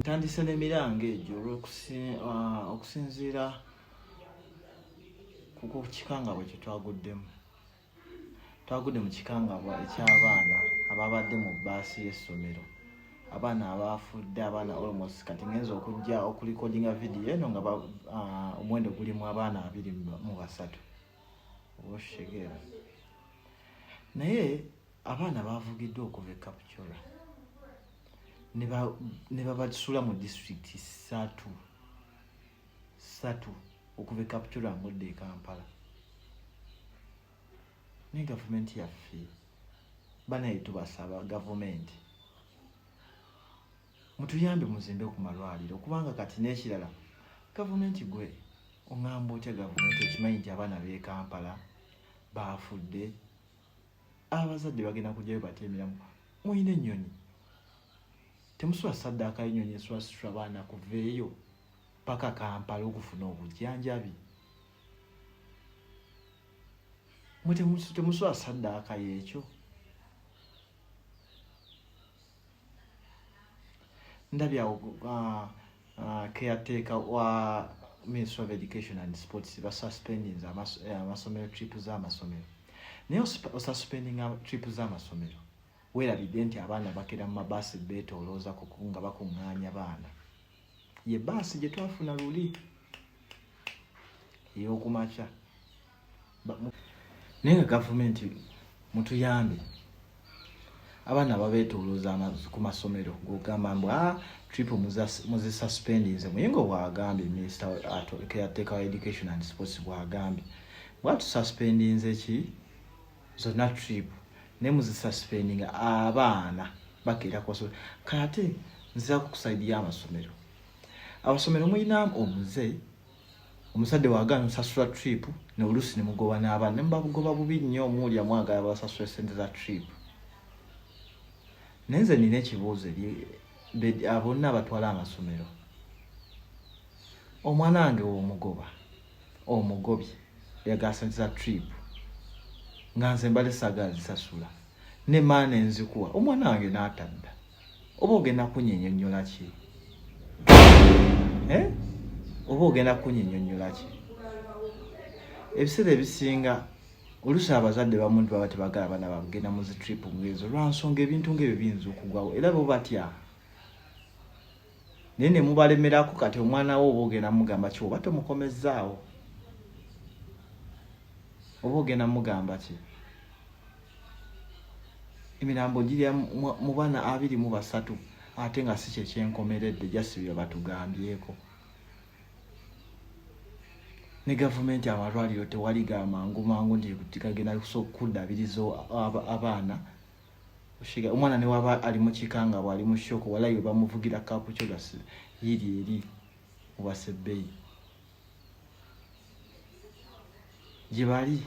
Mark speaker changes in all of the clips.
Speaker 1: ntandise n'emiranga egyo olwokusinziira uh, ku kikangabwa kye twaguddemu twagudde mu kikangabwa eky'abaana ababadde mu bbaasi y'essomero abaana abaafudde abaana almost kati ngenza okujja okulikodinga vidiyo eno nga uh, omuwendo gulimu abaana abiri mu basatu oshegera naye abaana bavugiddwa okuva ekapcura ne babasula mu disitulikiti satu satu okuva ekapcura ngudde ekampala naye gavumenti yaffe banaye tubasaba gavumenti mutuyambe muzimbe ku malwaliro kubanga kati n'ekirala gavumenti gwe oŋamba otya gavumenti okimanyi nti abaana bekampala baafudde abazadde bagenda kujjayo bate emiramu mulina ennyonyi temusula saddaaka y'ennyonyi eswasitula abaana kuveeyo paka kampala okufuna obujjanjabi mwe temusula saddaaka y'ekyo ndabye awo uh, uh, caretaker wa ministry of education and sports basuspending eh, amasomero trip z'amasomero naye osuspending trip z'amasomero weerabidde nti abaana bakera mu mabaasi beetoolooza kuku nga bakuŋŋaanya baana ye baasi gye twafuna luli ey'okumakya naye nga gavumenti mutuyambe abaana babetoloza ku masomero gogamba mbu a ah, trip muzisuspendinze muyinga bwagambye minisita caretaker wa education and sports bwagambye bwatususpendinze ki zonna trip naye muzisuspendinga abaana bakeera ku masomero kati nziraku ku saidi y'amasomero amasomero mulinamu omuze omusajja wagaana osasula trip noluusi ne mugoba n'abaana ne mubabugoba bubi nnyo omuwulira mwagala basasula esente za trip naye nze nina ekibuuzo eri bonna abatwala amasomero omwana wange womugoba omugobi yagala sente za trip nga nze mbale sagala zisasula ne maana enzikuwa omwana wange n'atadda oba ogenda kunyinyonyola ki eh? oba ogenda kunyinyonyola ki ebiseera ebisinga olusi abazadde bamuntu baba tebagala bana bagenda mu zitrip ngezo lwansonga ebintu ngaebyo biyinza okugwawo era bo batya naye ne mubalemerako kati omwana wo oba ogenda mugamba ki oba tomukomezzaawo oba ogenda mugamba ki emirambo girya mu bana abiri mu basatu ate nga si kyekyenkomeredde jasi bye batugambyeko ne gavumenti amalwaliro tewali gamangu mangu nti gagenda kudabiriza abaana oshiga omwana ne waba ali mu kikanga bwa ali mu shoko wala yo bamuvugira kapu kyo gasi yiri eri wase bay jibali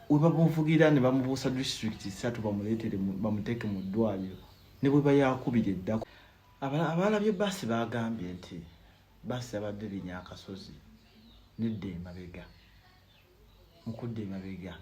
Speaker 1: weba bamuvugira ne bamubusa district satu bamuletere bamuteke mu dwaliro ne bwe bayakubire ddako abala abala bye basi bagambye nti basi abadde binya akasozi nedde mabega mukudda emabega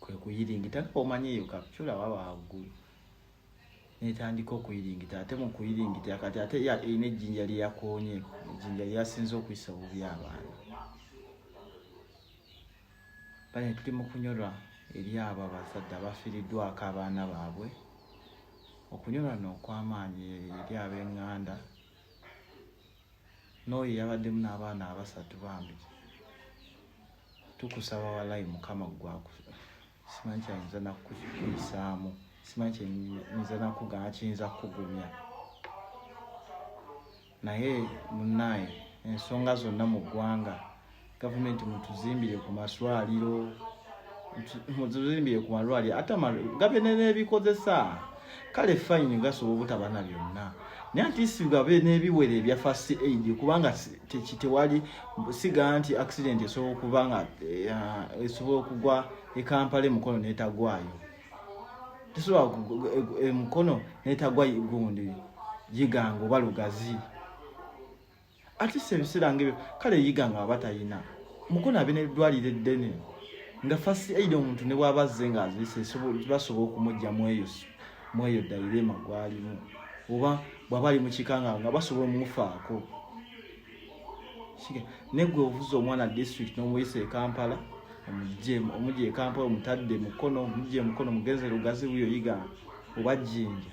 Speaker 1: kwe kuyiringita nga omanyi eyo kapcula waba waggulu netandika okuyiringita ate mu kuyiringita kati ate erina ejjinja lyeyakonye ejjinja lyeyasinza okuyisa obubi abaana bane tuli mu kunyolwa eri abo abazadde abafiriddwako abaana baabwe okunyolwa nookwamaanyi eri ab'enganda n'oyo yabaddemu n'abaana abasatu bambi tukusaba walayi mukama gwaku simanyi kyayinza nakukuyisaamu simanyi kyeyinza nakuga kiyinza kukugumya naye munaye ensonga zonna mu ggwanga government mutuzimbire ku maswaliro mutuzimbire ku malwaliro ate gabe nenebikozesa kale fine gasobola obutaba na byonna naye ati sigabe n'ebiwere ebya fast aid kubanga tewali siga nti accident esobola okuba nga eh, esobola okugwa ekampala emukono netagwayo tesobola emukono netagwa gundi giganga oba lugazi atisa ebiseera ngebyo kale yiga nga aba talina mukono abe neddwaliro eddene nga fast aid omuntu ne bwaba azze nga azise basobola okumujja mweyo mweyo dairema gwalimu oba bwaba ali mukikanga nga basobola omufaako negwe ovuza omwana district nomuyisa ekampala omugye ekampala omutadde mukono omugye mukono mugenze lugazi wuyo yiga oba jinja